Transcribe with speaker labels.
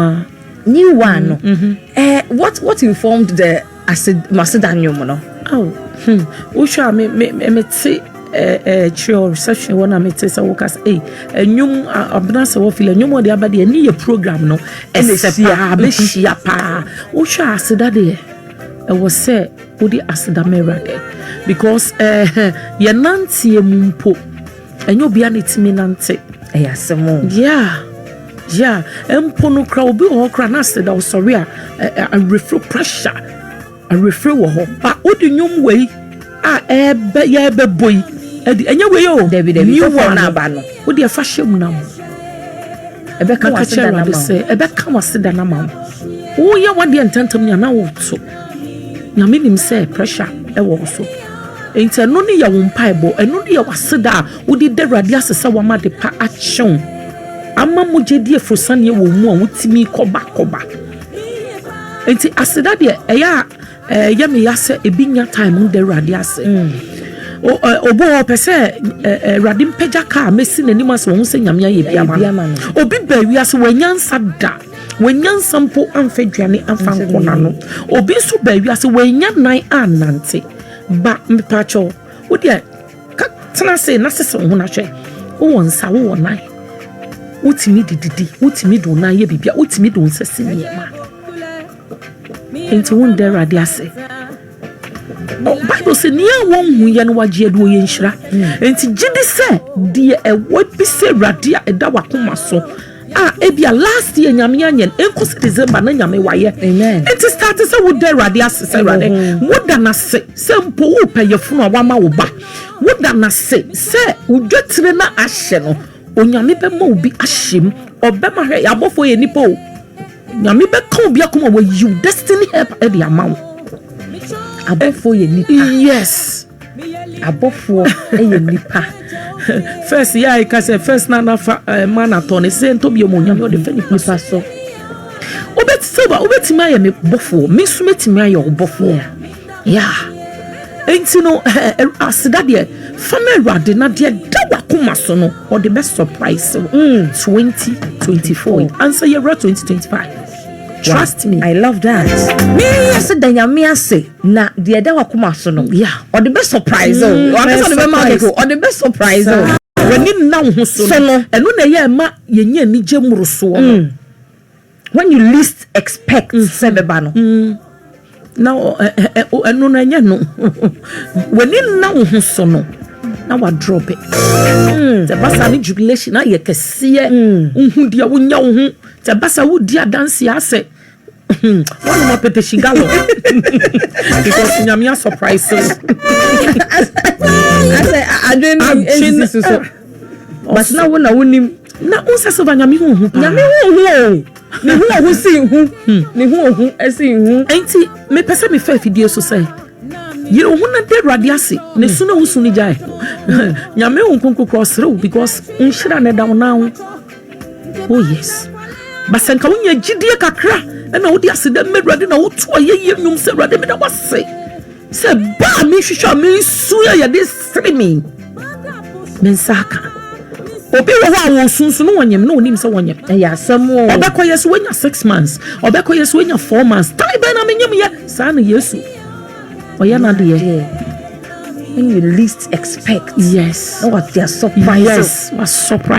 Speaker 1: Ah. New one no. Mm -hmm. eh, what, what informed the Maseda Nyom no? Oh, hmm.
Speaker 2: Wohwɛ a me, me, me, me te kyerɛ eh, eh, reception wɔ na mete sɛ woka sɛ ei ɛnwom abena sɛ wɔfili ɛnwom ɔde aba deɛ ɛne yɛ program no ɛsɛ paa bɛhyia paa wohwɛ aseda deɛ ɛwɔ sɛ wode aseda ma awurade because eh, yɛnanteɛ mu mpo Ɛnyɛ obiara na etumi nante. Ɛyɛ asɛm o.
Speaker 1: Yeah,
Speaker 2: yeah. Mpo no kora obi wɔ hɔ kora na asɛ da ɔsɔre a awerɛfiri pressure awerɛfiri wɔ hɔ. Ba wode nnwom wei a ɛbɛ yɛ ɛbɛbɔ yi ɛdi ɛnyɛ wei o. Dabi dabi new one na aba
Speaker 1: no. Wode ɛfa hyɛ mu na mo.
Speaker 2: Ɛbɛka waseda na ma wo. Ɛbɛka waseda na ma wo. Woyɛ wadeɛ ntɛntɛm ni anaa woto. Nyame nim sɛ pressure wɔ wo so. Enti ɛno ne yɛ wo mpaebɔ. Ɛno ne yɛ w'aseda a wode da Awurade ase sɛ wama ade pa akyɛ wo. Ama mogyadie aforosianeɛ wɔ wo mu a wotumi kɔba kɔba. Enti aseda deɛ ɛyɛ a ɛyɛ me ya sɛ ebi nya time da Awurade ase. Obo ɔpɛ sɛ Awurade mpagya kaa mɛsi n'anim ase wɔn sɛ Nyame ayɛ bi ama no. Obi baa wiase wɔanya nsa da. Wannya nsa mpo amfa aduane amfa ankɔ n'ano. Obi nso baa wiase, wannya nan annante. Ba, mepakyɛw, wo deɛ, ka tena ase na sese wo ho na hwɛ. Wowɔ nsa, wowɔ nan. Wotumi de didi, wotumi de wo nan yɛ biribi a, wotumi de wo nsa si nneɛma. Enti wo nda Awurade ase. Bible sɛ nea wɔnhu yɛ no wagye adi ɔyɛ nhyira. Enti gye di sɛ deɛ ɛwɔ bi sɛ Awurade a ɛda wakoma so a ebi a last year nyame anyɛ no nkɔ sɛ December na nyame wayɛ. Enti start
Speaker 1: sɛ woda
Speaker 2: Awurade ase sɛ Awurade woda no ase sɛ mpo wopɛ yɛfunu a wama wo ba. Woda no ase sɛ wodwatire no ahyɛ no Onyame bɛma obi ahyɛ mu ɔbɛma hwɛ yɛabɔfoɔ yɛ nipa o Nyame bɛka obi akoma wayiw destiny help ɛde ama wo abɔfoɔ yɛ nipa yes abɔfoɔ yɛ nipa first yɛ a ɛka sɛ first na nafa eh, ma na tɔ ne sɛ ntɔ bio mu Onyame ɔde fɛ nipa so wobɛti sɛ wobɛtumi ayɛ me bɔfoɔ me nso mɛtumi ayɛ wo bɔfoɔ Yeah, enti no, aseda deɛ, fa ma Awurade na deɛ da wakoma so no, ɔde bɛ surprise wo. Mm. 2024, ansa yɛwura 2025. Trust me. I love that.
Speaker 1: Me yɛsɛ da nyame ase na deɛ da wakoma so no, yeah, ɔde bɛ surprise wo. Mm, Wakasa ɔde bɛ ma keko, ɔde bɛ surprise wo. W'ani nna
Speaker 2: wo ho so no, ɛno na ɛyɛ ɛma yɛnyɛ anigye mmorosoɔ no. Mm.
Speaker 1: When you least expect mm. sɛ bɛba no mm. na
Speaker 2: ɛno no ɛnyɛ no w'ani nna wo ho so no na wadrɔpe mm. sɛ basa ne jubilation ayɛ kɛseɛ wohu deɛ wonya wo ho sɛ basa wodi adanseɛ asɛ wọn mọ pete shiga lọ because nyamia surprise.
Speaker 1: asɛ adwene nsi so. But na wo na wo nim. Na wo nsa silver
Speaker 2: nyame hu ohu paa. Nyame hu ohu o.
Speaker 1: Ne hu ohu si hu. Hmm. Ne hu ohu si hu. Enti me pɛ sɛ
Speaker 2: me fɛ fidie so sɛ. Yere wo ho na da awurade ase na hmm. su na wosu no gyae hmm. nyame wo nkonko kora ɔsere wo because nhyira na ɛda wo nan ho oh yes basɛ nka wonya gyidie kakra ɛna wode aseda ma awurade na woto ayɛyie nnwom sɛ awurade meda wase Sɛ ba a mehwehwɛ a mesu a yɛde sere me, me nsa aka. Obi wɔ hɔ a wɔsu nso na wɔnyem na wɔnim sɛ wɔnyem. Ɛyɛ asɛm o.
Speaker 1: Ɔbɛkɔ yɛ so wanya six
Speaker 2: months, ɔbɛkɔ yɛ so wanya four months. Tae bɛn na menyem yɛ? Saa na Yesu ɔyɛ n'adeɛ. When
Speaker 1: you
Speaker 2: least
Speaker 1: expect. Yes.
Speaker 2: Na
Speaker 1: wate a surprise. Yes, wa surprise.